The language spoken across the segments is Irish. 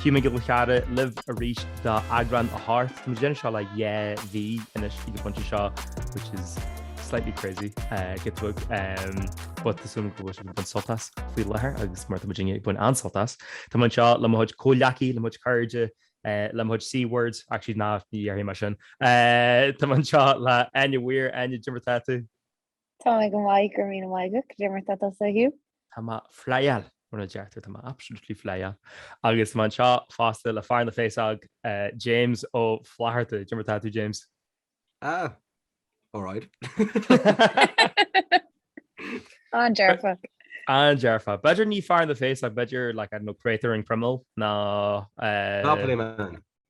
Hugh Mac Giolla Cheara libh arís do eagrán a hocht. Tá muid ag déanamh seo le dhá mhí anois ag an bpointe seo which is slightly crazy go tuig but tá súil agam go bhfuil sibh ag baint sult as faoi láthair agus mar tá muidinne ag baint an-sult as. Tá mé anseo le mo chuid comhghleacaí, le mo chuid cairde, le mo chuid C-words, actually ná ní dhéarfaidh mé sin. Tá mé anseo le Áine Weir, Áine, dé mar tá tú? Tá mé go maith go raibh míle maith agat dé mar tá tusa Hugh. Tá mé flyáil, mar a deirtear, tá mé absolutely flyáil agus tá mé anseo fosta le fear na féasóg, James Ó Flatharta. Dé mar atá tú, James. Ah, alright. An-dearfa. An-dearfa. B'fhéidir ní fear na féasóg, b'fhéidir like, I don't know, créatúr an chroiméil nó eh. Monopoly man.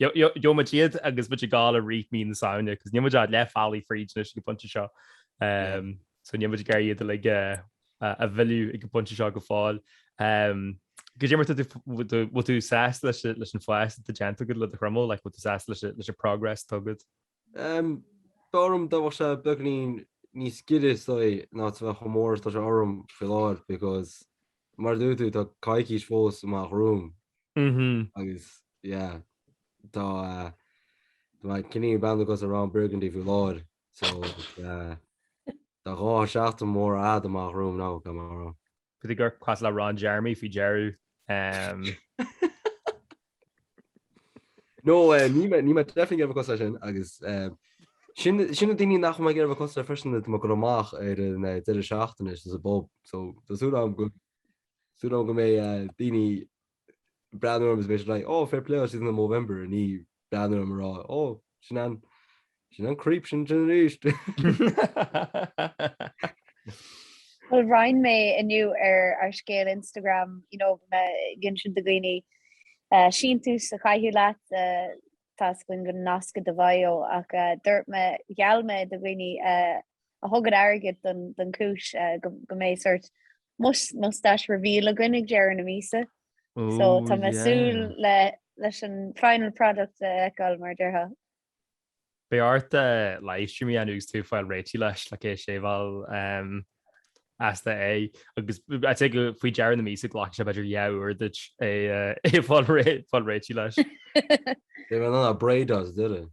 Gheobhaidh muid iad agus muid ag gabháil i rith mí na Samhna because níl muid ach leath bealaigh fríd anois ag an bpointe seo so níl muid ag iarraidh iad uilig a mhilleadh ag an bpointe seo go fóill. Goidé mar, bhfuil tú sásta leis an fhás atá déanta agat le do chroiméal, like, bhfuil tú sásta leis an progress atá agat? B'fhearr liom dá bheadh sé beagainín níos giorra sa dóigh ná sa bheith chomh mór is atá sé orm faoi láthair because mar a dúirt tú tá coicís fós amach romham agus yeah tá mé cineál ag breathnú cosúil le Ron Burgundy faoi láthair so tá dhá sheachtain mhóra fhada amach romham now tá mé á rá. B'fhéidir gur cosúil le Ron Jeremy faoi dheireadh? No níl mé definitely ag iarraidh a bheith cosúil leis sin agus sin na daoine nach bhfuil mé ag iarraidh a bheith cosúil leis freisin tá muid ag dul amach ar an deireadh seachtaine is sa pub so tá súil agam go mbeidh daoine breathnú orm is mé sin like oh fair play oh she's in the Movember ní breathnú orm a rá oh sin an sin an creep sin sin arís. Bhuel roinn mé inniu ar ar scéal Instagram you know mé ag insint do dhaoine uh, síntiús a chaitheamh leat uh, tá a fhios againn go nasc i do bhio ach uh, dúirt mé gheall mé do dhaoine uh, a thugann airgead don, don cúis uh, go, go mbeidh sórt Muis mustache reveal againn ag deireadh na míosa so tá mé ag súil leis an final product a fheiceáil mar déarfá. Beidh ort livestream a dhéanamh agus tú ag fáil réitigh leis like é a shaveáil as d'aghaidh agus I'd say go faoi deireadh na míosa glacfaidh sé b'fhéidir dhá uair duit é ag fáil réitigh leis. Beidh mé in ann braids a dhéanamh.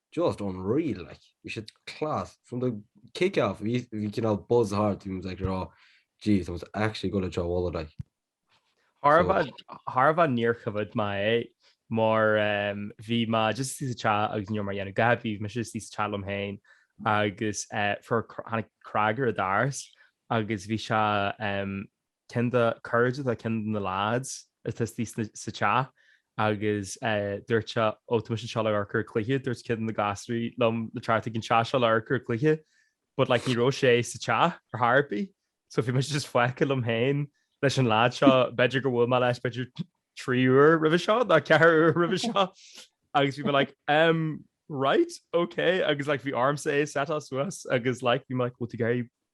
just unreal like bhí siad class from the kick off bhí bhí cineál buzz thart bhí muid like rá jeez tá muid actually going to Treabh Mhullaigh like Thar So- bheith thar bheith níor choimhéad mé é mar em, bhí mé just istigh sa teach agus ní raibh mé ag déanamh a dhath bhí mé istigh sa teach liom féin agus eh, fuair cr- tháinig cnag ar an doras agus bhí sé em, ceann de cairde tá ceann de na leaids isteach sa teach agus dúirt sé ó tá mise anseo le amharc ar an cluiche dúirt ceann de na gasraí liom le teacht ag an teach seo le amharc ar an cluiche but like ní raibh sé sa teach ar chor ar bith so bhí mise just fágtha liom féin leis an leaid seo b'fhéidir gur bhuail mé leis b'fhéidir trí uair roimhe seo nó ceathar uair roimhe seo agus bhí mé like um right okay agus like bhí ormsa é setáil suas agus like bhí like bhfuil tú gaiir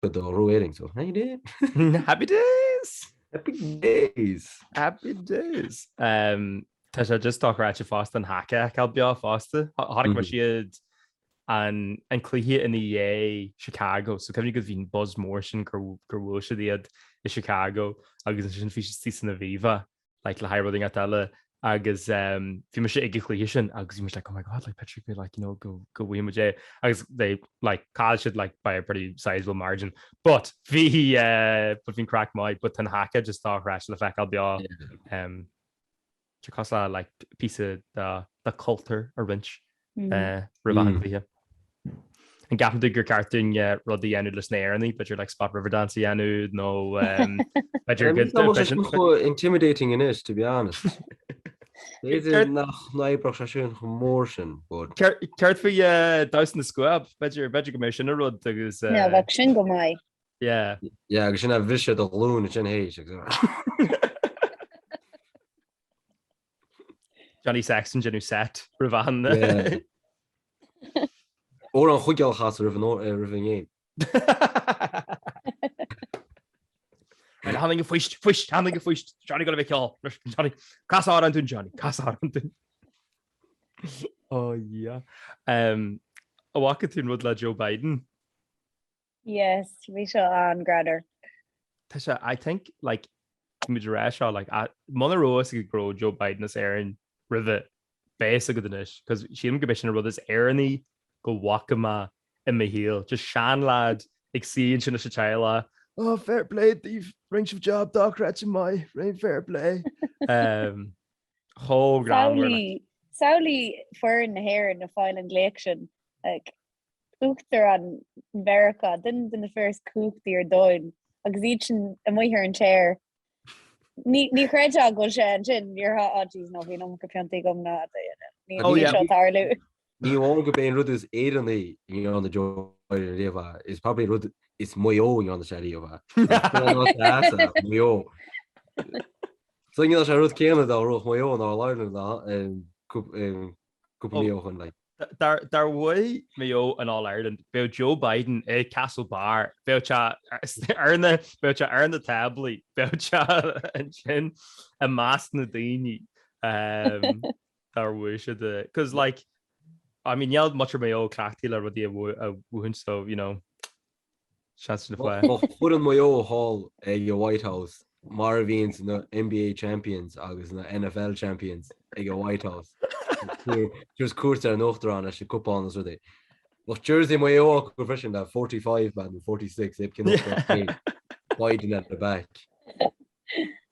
Go dtarlódh Éirinn so. Happy days! Happy days! Happy days! Happy days! Um, tá sé just dochreidte fosta an haka a fheiceáil beo fosta. Chonaic mise iad an, an cluiche ina dhiaidh Chicago, so cuimhnigh go bhí an buzz mór sin gur, gur bhuail siad iad i Chicago agus ansin bhí sé istigh san Aviva. like le haghaidh rud inteacht eile agus bhí mise ag an chluiche sin agus bhí mise like, oh my God, like b'fhéidir like, you know, go go bhfaighidh muid é agus they like chaill siad like by a pretty sizable margin. But bhí eh, but bhí'n craic maith but tá an haka just dochreidte le feiceáil beo em, tá cosúil le like píosa dá cultúr a roinnt roimh achan cluiche. An gceapann tú gur ceart dúinn rud a dhéanamh leis na hÉireannaigh, b'fhéidir like spot Riverdance a dhéanamh nó b'fhéidir go. Tá muid ag go intimidating anois to be honest. B'fhéidir nach n-oibreodh sé sin chomh mór sin but. Céard faoi damhsa na scuab? B'fhéidir go mbeidh sin an rud agus. Yeah bheadh sin go maith. Yeah. Yeah agus sin ag briseadh do ghlúin ansin théis agus. Johnny Sexton ag déanamh set roimh achan duine. Óir an choigil chas roimh an ngéim. Bhuel, tháinig an fuist, fuist, tháinig an fuist. Johnny ag gabháil a cheol. Johnny, cas amhrán dúinn Johnny, cas amhrán dúinn. Ó, dhia. An bhfaca tú an rud le Joe Biden? Yes, bhí seo an-greannmhar. Tá sé, I think, like, tá muid ag rá seo, like, a- muna raibh fhios agat go raibh Joe Biden as Éirinn roimhe, beidh fhios agat anois, 'cause sílim gurb é sin an rud is Éireannaí go bhfaca mé i mo shaol. Just seanleaid ag suí ansin leis an teaghlach, Oh, fair play daoibh, rinne sibh jab dochreidte maith, rinne, fair play. Em, chomh greannmhar, like. Samhlaigh, samhlaigh foireann na hÉireann a' fáil an glaoch sin, like, Uachtarán Mheiriceá, duine de na fir is cumhachtaí ar domhain, agus iad sin amuigh ar an tear. Ní, ní chreidfeá go bhfuil sé ansin, déarfá, á jeez no, bhí an iomarca piontaí agam ná, níl, níl seo ag tarlú. Ní amháin gurb é an rud is Éireannaí a ndearna Joe riamh é, is probably an rud is Maigh Eo a ndearna sé riamh, Maigh Eo. Is cúl an áit é ata Maigh Eo. Is dóigh dhéanfadh sé an rud céanna dá rugadh Maigh Eo an All Ireland ná, go Ó, Maigh Eo chun linn. dá, dá mbuafadh Maigh Eo an All Ireland, bheadh Joe Biden i Castle Bar, bheadh sé ar na, bheadh sé ar na táblaí, bheadh sé ansin i measc na daoine dá mbuafadh siad é. Cos like, I mean, níl muintir Mhaigh Eo cleachtaithe le rudaí a bhuachaint so, you know. Seans le foireann. Foireann Mhaigh Eo thall ag an White House mar a bhíonns na NBA Champions agus na NFL Champions ag an White House, ag tabhairt cuairt ar an Uachtarán leis an gcupán is rudaí. Bheadh jersey Maigh Eo acu freisin le forty five man nó forty six iad cineál Biden at the back.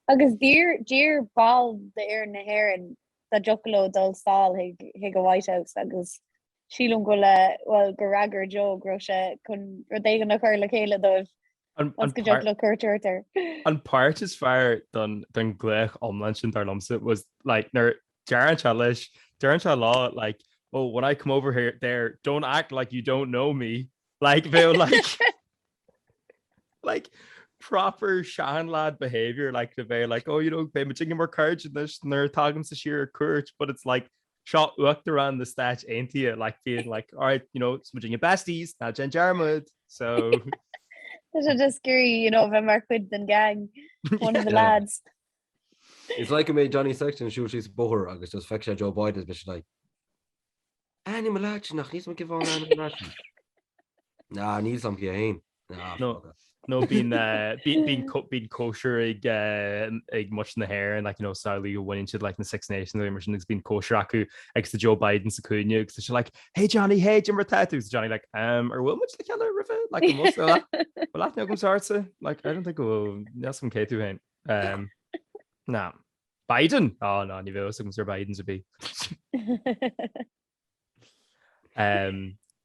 Agus d'iarr d'iarr ball d'fhoireann na hÉireann dá dtiocfadh leo dul sall chuig chuig an White House agus Sílim go bhfuil, bhuel, gur fhreagair Joe go raibh sé chun rud éigin a chur le chéile dóibh go dtiocfadh leo cuairt a thabhairt air. An páirt is fearr den ghlaoch iomlán sin dar liomsa was like nuair deireann sé leis, deireann sé leo like oh when I come over here there don't act like you don't know me like bhí sé like like proper seanleaid behaviour like bhí sé like oh you know beidh muid inár gcairde anois nuair a tagaimse siar ar cuairt but it's like Seo Uachtarán na Stáit Aontaithe like being like all right you know is muid inár besties ná déan dearmad so Tá sé just ag iarraidh you know bheith mar chuid den gang one of the lads. It's like mbeadh Johnny Sexton ag siúl síos an bóthar agus just feiceann sé Joe Biden is beidh sé like An aithním an leaid nach níl a fhios agam cé hé an aithním an leaid Ná níl a fhios agam cé hé. nó bíonn cóisir ag muintir na hÉireann ag samhlaíl go bhaineann siad le na Six Nations nó mar sin agus bíonn cóisir acu agus tá Joe Biden sa chúinne agus tá sé like Hey Johnny, hey cad é mar atá tú? Agus tá Johnny like Umm ar bhuail muid le chéile roimhe? Like an bhfuil an bhfuil aithne agamsa ortsa? Like I don't think go bhfuil, níl 's agam cé tú féin. Umm ná Biden? Á ná níl aithne agam ar Biden ar bith.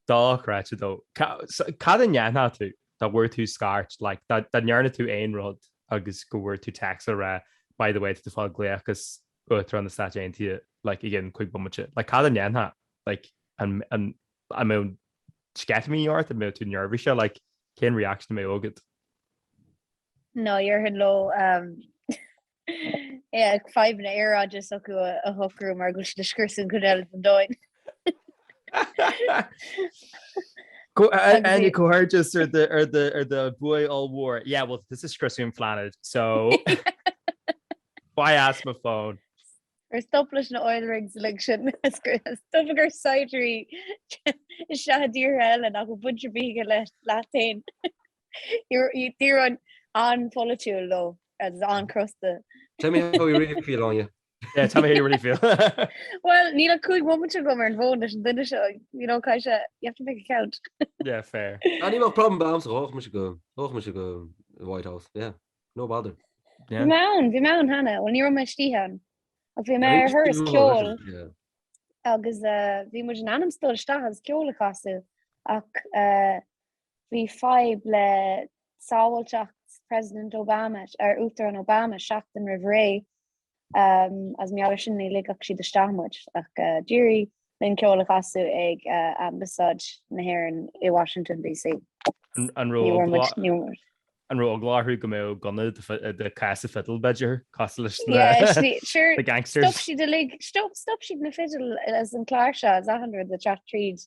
Dochreidte though. Cad é a dhéanfadh tú dá bhfuair tú scairt like dá dá ndearna tú aon rud agus go bhfuair tú text le rá by the way tá tú ag fáil glaoch ó Uachtarán na Stáit Aontaithe like i gceann cúig bomaite. Like cad é a dhéanfadh like an mbeadh sceitimíní ort, an mbeadh tú neirbhíseach like cén reaction a mbeadh agat? Nah déarfainn leo. Na fadhbanna aeráide s'acu a shocrú mar go bhfuil siad ag scriosadh an chuid eile den domhan. Comhghairdeas ar do bhua ollmhór? Yeah, well tá tusa ag scriosadh an phlainéid so imigh as mo phone? Ar stop leis na oil rigs uilig sin? Stop ag cur saighdiúirí isteach i dtíortha eile nach bhfuil baint ar bith acu leat féin. Tír an-pholaitiúil go leor agus an-chrosta. Tell me how you really feel, Áine. Yeah, tell me how you really feel. Bhuel, níl ach cúig mhóimint agam ar an bhfón leis an duine seo, you know, caith sé, you have to make it count. Yeah, fair. Ah, ní bheadh problem ar bith agamsa ghabhfadh mise go, ghabhfadh mise go dtí an White House, yeah, no bother. Bhí mé ann, bhí mé ann cheana, bhuel ní raibh mé istigh ann, ach bhí mé ar thuras ceoil agus bhí muid in ainm is dul isteach agus ceol a chasadh ach Bhí fadhb le sábháilteacht President Obama, or Uachtarán Obama, seachtain roimh ré. Agus mar gheall air sin, ní ligfeadh siad isteach muid ach d'éirigh linn ceol a chasadh ag Ambasáid na hÉireann i Washington DC. An raibh eagla orthu go mbeadh gunna i do chása fidil, b'fhéidir? Cosúil leis na gangsters? Stop siad uilig, stop siad na fidil is an chláirseach, is achan rud ag teacht tríd.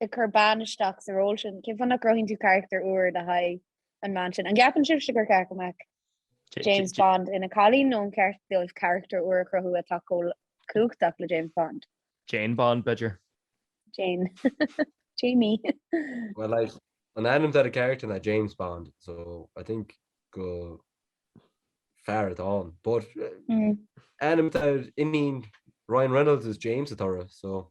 ag cur bean isteach sa ról sin. Cén fáth nach gcruthaíonn tú carachtar úr le haghaidh an bhean sin? An gceapann sibhse gur cheart go mbeadh James Bond ina cailín nó an ceart dóibh carachtar úr a chruthú atá chomh cumhachtach le James Bond? Jane Bond, b'fhéidir? Jane. Jamie. Bhuel, like, an t-ainm atá ar an gcarachtar ná James Bond, so I think gur fear atá ann, but ainm atá ar iníon Ryan Reynolds is James atá uirthi, so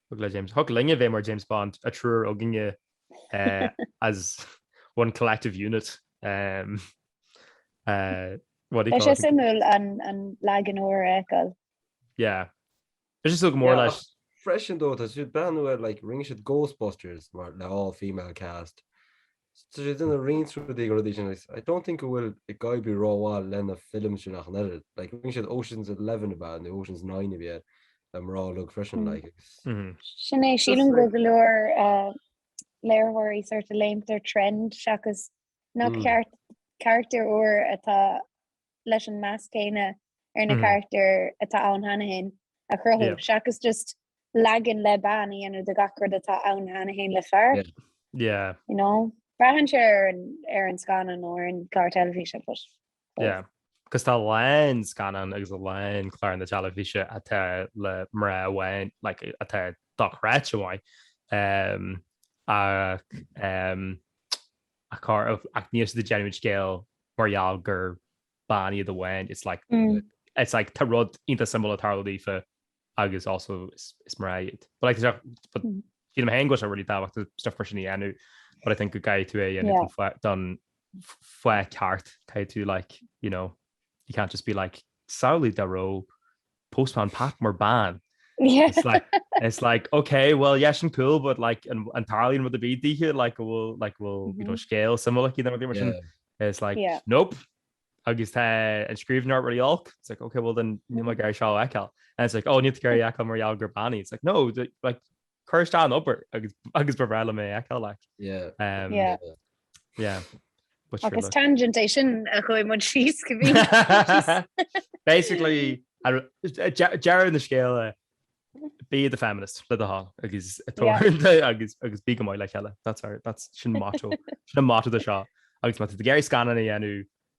Thug le James. Thig linne bheith mar James Bond, an triúr againne as one collective unit. Bheadh sé suimiúil an leagan úr a fheiceáil. Yeah. Bheadh sé suimiúil go mór like. Freisin though, tá siad breathnú ar like rinne siad Ghostbusters mar le all female cast. Scrios siad roinnt rudaí de na rudaí original agus I don't think go bhfuil an Ghaeilge rómhaith le na films sin ach an oiread. Like rinne siad Ocean's Eleven ab ea nó Ocean's Nine a bhí ar an gceann le mná uilig freisin like agus. Sin é, sílim go bhfuil go leor léiritheoirí sort of ag léimt ar trend seachas nach carachtar úr atá leis an meas céanna ar na carachtair atá ann cheana féin a chruthú seachas just leagan le bean a dhéanamh de gach rud atá ann cheana féin le fear. You know? Braitheann sé ar an scannán nó ar an gclár teilifíse but yeah. Cos tá a lán scannán agus a lán clár na teilifíse atá le mná amháin like atá dochreidte maith ach ar chor ar bith ach níl siad ag déanamh an scéil mar gheall gur bean iad amháin. It's like it's like tá rud iontach suimiúil ag tarlú daofa agus also is mná iad. But like tá sé but sílim fhéin go bhfuil sé really tábhachtach stuff mar sin a dhéanamh but I think go gcaithfidh tú é a dhéanamh Yeah. don fa- don f- fáth ceart. Caithfidh tú like, you know, you can't just be like, samhlaigh dá raibh postman Pat mar ban it's like it's like okay well yes and cool but like an an tarlín rud a bhí ddíthe like go bhfuil like bhfuil you know mm-hmm. scéal samlaí na mar sin it's like yeah. nope agus tá an scríbnar ruí olc it's like okay well den ni mar mm-hmm. gar seá eáil and it's like ó oh, ní gar eá mar eall gur bannaí it's like no like Cuir isteach an obair agus ba bhreá liom é a fheiceáil like. Yeah. Agus tangent é sin a chuaigh muid síos go bhí. Basically, deireadh an scéil be the feminist le do thoil agus agus bí go maith le chéile sin motto sin motto do seo agus má tá tú ag iarraidh scannáin a dhéanamh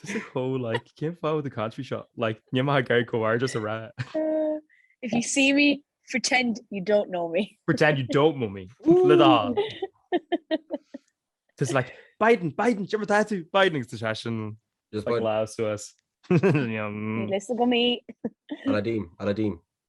Tá sé chomh like cén fáth do country seo like níl mé ag iarraidh comhrá just ag rá. If you see me, pretend you don't know me. Pretend you don't know me. Le dá. Tus like Biden, Biden, seo mar tá tú, Biden agus tá sé sin Just like bud. lá suas. Ní lios agam í. Aladdin, Aladdin.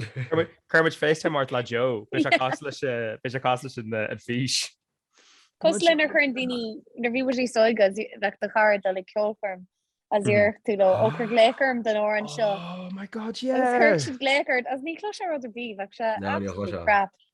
Cuirfimid FaceTime ort lá Joe, beidh sé cosúil leis beidh sé cosúil leis an fís. Cosúil le nuair a chuireann daoine nuair a bhí muid níos óige bheadh do chara ag dul ag ceolchoirm is déarfadh tú leo ó cuir glaoch orm don amhrán seo. Oh my God yeah! Chuir siad glaoch ort is ní chloisfeá rud ar bith bheadh sé absolutely crap.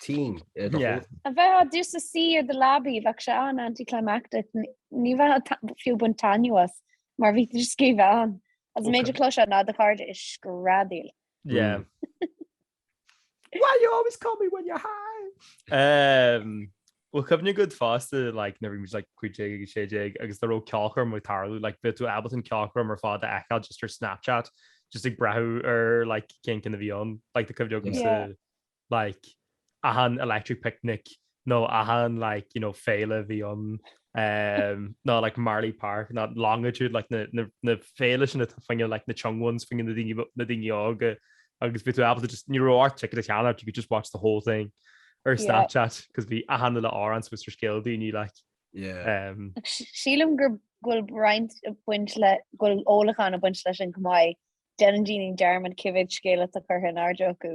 team i do shúile. A bheith just ag suí ar do leabaidh, bheadh sé an-anticlimactic. Ní bheadh fiú ag baint taitneamh as mar bhí tú ag bheith ann. Is an méid a chloisfeá ná do chairde ag screadaíl. Yeah. Why you always call me when you're high? Bhfuil cuimhne agat fosta like nuair a bhí muid like 15 agus 16 agus dá raibh ceolchoirm ag tarlú like bheadh tú ábalta an cheolchoirm ar fad a fheiceáil just ar Snapchat just ag breathnú ar like cén cinn a bhí ann like tá cuimhne agamsa like achan electric picnic nó achan like you know féile a bhí ann um nó like Marlay Park nó Longitude like na na na féile sin atá fá choinne like na young ones fá choinne na daoine na daoine óga agus bheadh tú ábalta just ní raibh ort ticket a cheannacht you could just watch the whole thing ar Yeah. Snapchat cos bhí achan uile amhrán thuas ar scéal daoine like Yeah. um Ach sí- Sílim go bhfuil roinnt a bhaint le go bhfuil ólachán ag baint leis sin chomh maith. Déanann daoine dearmad cibé scéal atá curtha in airde acu.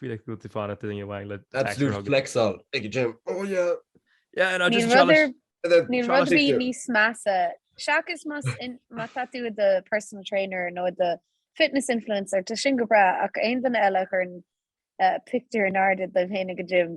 Feel like go bhfuil tú fanacht i nDaingean Mhaigh le taicéar a thugadh. Absolute flex all ag an gym. Oh yeah! Yeah, no, just a challenge. Níl rud ar bith níos measa, seachas má tá tú i do personal trainer nó i do fitness influencer, tá sin go breá, ach aon duine eile a chuireann pictiúr in airde dóibh féin ag an gym,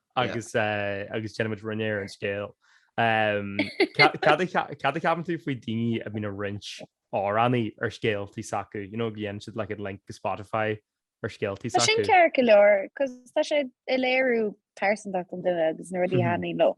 agus agus déanann muid roinnt ar an scéal. Cad a cheapann tú faoi daoine a bhíonn ag roinnt amhránaí ar scéaltaí s'acu, you know, go ndéanann siad like link go Spotify ar scéaltaí s'acu. Tá sin ceart go leor cos tá sé ag léiriú pearsantacht an duine agus na rudaí a thaitníonn leo.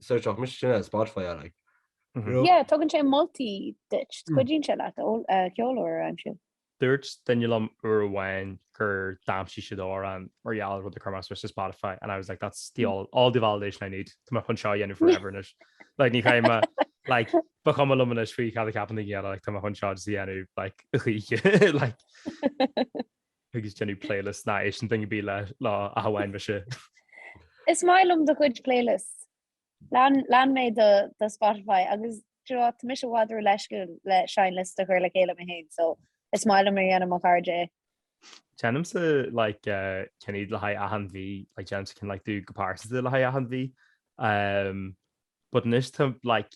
search off mise sin Spotify I like. Yeah, tugann sé moltaí duit, cuidíonn sé leat ceol úr a aimsiú. Dúirt duine liom uair amháin gur d'aimsigh siad amhrán mar gheall ar rud a chuir mise ar Spotify and I was like that's the all, all the validation I need Tá mé chun seo a dhéanamh forever anois. Like ní chaim like ba chuma liom anois faoi cad a cheapann aon duine eile, like tá mé chun seo a dhéanamh like chuige like. Agus déanamh playlists nach n-éisteann duine ar bith leo ach amháin mise. Is maith liom do chuid playlists. Lean lean mé do do Spotify agus do you know what tá mise i bhfad ró-leisciúil le seinnliosta a chuir le chéile mé féin so is maith liom nuair a dhéanann mo chairde é. Déanamsa like eh, déanaim iad le haghaidh achan mhí, like déanamsa ceann like domh go pearsanta le haghaidh achan mhí. But anois tá like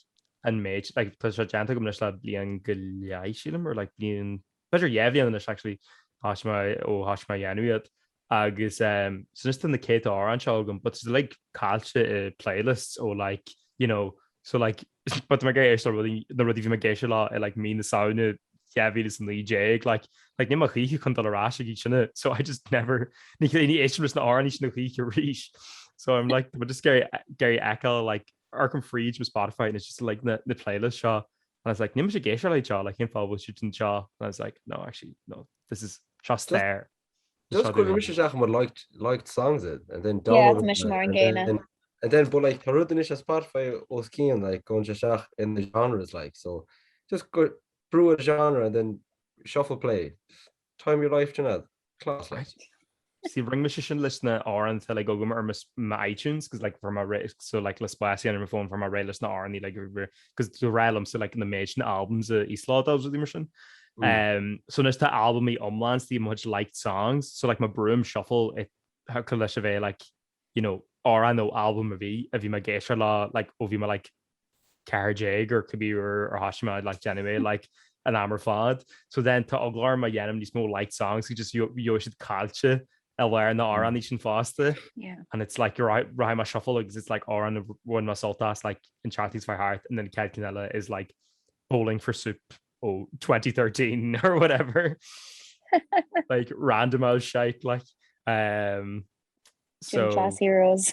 an méid, like tá sé déanta agam anois le bliain go leith sílim, or like bliain, b'fhéidir dhá bhliain anois actually thoisigh mé ó thoisigh mé a dhéanamh iad agus ehm so anois tá na céadta amhráin seo agam but it's like caillte i playlists ó like you know so like but tá mé ag éisteacht le rudaí, na rudaí bhí mé ag éisteacht leo i like mí na Samhna 2019 like like níl mo choíche chun dul ar ais ag sin so I just never ní ní éistim na áirní sin na choíche ríis so I'm like but just Gary Gary Echo like Arkham Freed was Spotify and it's just like na, na playlist seo and I was like ní sé géisio le seo like cén fábhil si an seo and I was like no actually no this is seo stair Just go raibh mise isteach i mbun liked songs it and then downloaded it. Yeah, tá mise mar an gcéanna. And then but like tá rud anois ar Spotify os cionn like go raibh sé isteach in the genres like so just go brew a genre and then shuffle play. Time your life sin ad. Class like. See ring me sin leis na ár an till ag agam ar my iTunes because like for my so like le spáis an ar my phone for my ré leis na ár ní like 'cause ba ghnách liomsa like an méid sin albums a íoslódáil agus rudaí mar sin. Um so anois tá albamaí iomlán istigh i mo chuid liked songs so like má bhrúim shuffle thiocfadh leis a bheith like you know amhrán nó album a bhí a bhí mé ag éisteacht leo like nuair a bhí mé like 14 or cibé uair ar thoisigh mé like anyway like an am ar fad so then tá eagla orm a dhéanamh níos mó liked songs 'cause just bhí bhí siad caillte a mhair na amhráin iad sin fosta and it's like you're right right más shuffle agus it's like amhráin a bhain más sult as like an teacht níos fearr thart and then cead cinn eile is like bowling for soup ó 2013 or whatever like random as shite like um so Gym class heroes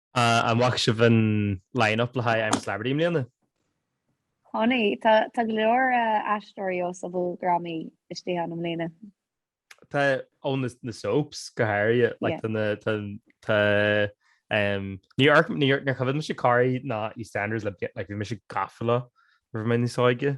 An bhfaca sibh an line-up le haghaidh I'm a Celebrity i mbliana? Chonaic. Tá go leor aisteoirí ó shobaldrámaí istigh ann i mbliana. Tá, ó na soaps go háirithe. Níor choimhéad mise Corrie ná EastEnders le blianta, bhí mise gafa leo nuair a bhí mé níos óige.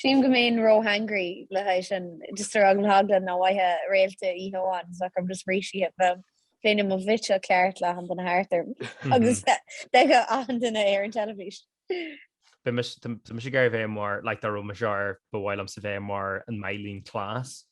Sílim go mbeinn ró hangry le haghaidh sin. Just ar eagla na heagla nach bhfaightheá réalta oíche amháin is go gcaithfinn just rís a ithe bheinn i mo bhitseach ceart le achan duine thart orm agus d'fheicfeadh achan duine ar an teilifís. But tá mise ag iarraidh bheith mar, like dá raibh mise ar, ba mhaith liomsa bheith mar an Myleene Klass.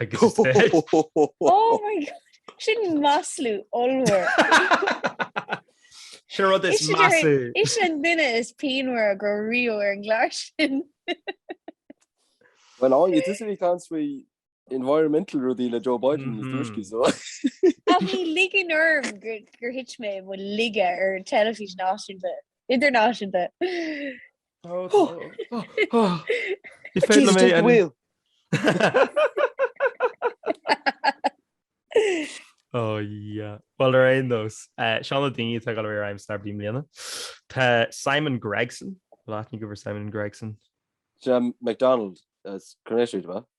agus is féidir. Oh my God! Sin maslú ollmhór. Sin rud is maslú. Is í an duine is pianmhara go riabh ar an gclár sin. Bhuel, Áine, tusa a bhí ag caint faoi environmental rudaí le Joe Biden mm -hmm. tuisci so. Ach ní ligim orm gur thit mé i laige ar teilifís náisiúnta idirnáisiúnta. Tá, tá. Ní féidir liom é an... Ó, yeah. Bhuel, ar aon nós, seo na daoine atá ag dul ar I'm a Celeb i mbliana. Tá Simon Gregson, an bhfuil aithne agaibh ar Simon Gregson. Jim McDonald as Coronation Street, ba?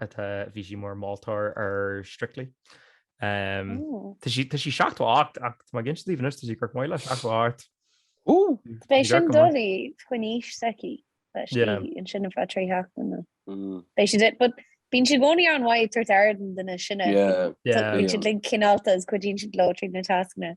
Tá, bhí sí mar mholtóir ar Strictly. Tá sí seachtó a hocht ach tá mé ag insint daoibh anois, tá sí go maith le seachtó a hocht. Ó! Beidh sin doiligh don aois s'aici leis í, ansin a bheadh trí theacht ann. Beidh siad ag, but bíonn siad i gcónaí an-mhaith ag tabhairt aire don duine is sine. Bíonn siad like cineálta is cuidíonn siad leo tríd na tascanna.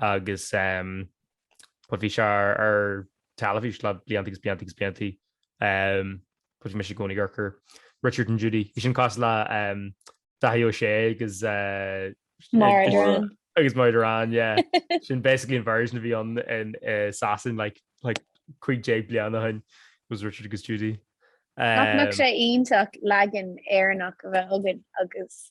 agus but bhí sé ar teilifís le blianta agus blianta agus blianta. Bhuel bhí mise i gcónaí ag amharc ar Richard and Judy. Bhí sin cosúil le Daithí Ó Sé agus Maura Derrane. Agus Maura Derrane, yeah. Sin basically an version a bhí ann i Sasain like 15 bliain ó shin was Richard agus Judy. Nach mbeadh sé iontach leagan Éireannach a bheith againn agus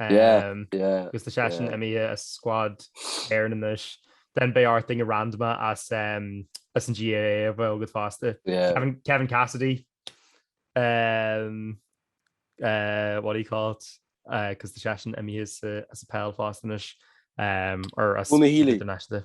Agus tá seisean imithe as scuad Éireann anois, then beidh ort duine random as an GAA a bheith agat fosta. Kevin Cassidy, what do you call it, 'cause tá seisean imithe as an peil fosta anois, or as an international.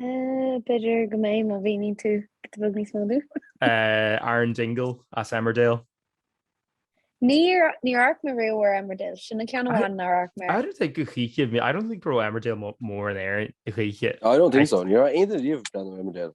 B'fhéidir go mbeidh má mhíníonn tú rud beag níos mó dúinn. Aaron Dingle as Emmerdale. Níor amharc mé riamh ar Emmerdale, sin an ceann amháin nár amharc mé air. I don't think choíche, I don't think go raibh Emmerdale mór in Éirinn choíche. I don't think so, ní raibh aon duine riamh ag breathnú ar Emmerdale.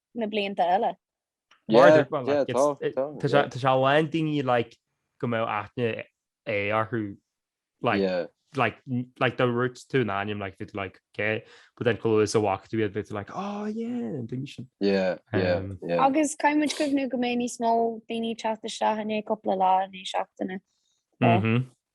na blianta eile. Mar Yeah, dhúpla, yeah, like, tá, it's- tá, tá sé- yeah. tá sé lán daoine, like, go mbeadh aithne é orthu, like, Yeah. like, n- like, dúirt tú an ainm, like, bhí tú, like, ok, but then chomh luath is a bhfaca tú iad, bhí tú, like, oh, yeah, an duine sin. Yeah, yeah, Um, yeah. Agus caithfidh muid cuimhniú go mbeidh níos mó daoine ag teacht isteach i ndiaidh cúpla lá, i ndiaidh seachtaine. Yeah. Mhm.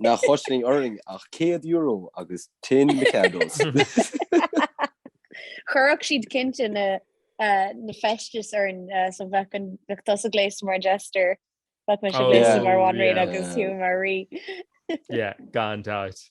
Nach gcosnaíonn orainn ach €100 agus tin Mikados. Chuirfeadh siad cinnte na na feistis orainn so bheadh an bheadh tusa gléasta mar an Jester. Bheadh mise gléasta mar Bhanríon agus Hugh mar Rí. Yeah, gan dabht.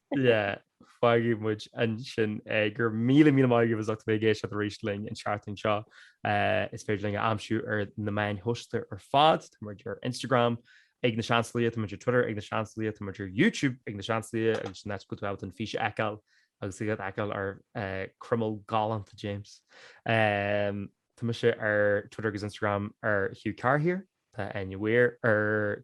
Fágfaidh muid ansin é. Go raibh míle míle maith agaibh as ucht a bheith ag éisteacht arís linn an tseachtain seo. Is féidir linn a aimsiú ar na meáin shóisialta ar fad. Tá muid ar Instagram ag Na Seansálaithe, tá muid ar Twitter ag Na Seansálaithe, tá muid ar YouTube ag Na Seansálaithe agus sin áit go bhfuil tú an fís a fheiceáil agus tú ag fheiceáil ar croiméal galánta James. Tá mise ar Twitter agus Instagram ar Hugh Carr Here. Tá Áine Weir ar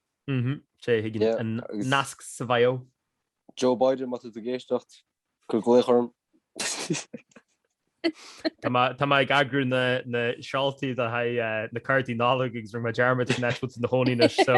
Is é a thuigeann an nasc sa bhio. Joe Biden, má tá tú ag éisteacht, cuir glaoch orm. Tá mé ag eagrú na seoltaí le haghaidh na cártaí Nollag agus rinne mé dearmad cén áit a bhfuil tú ina chónaí anois so.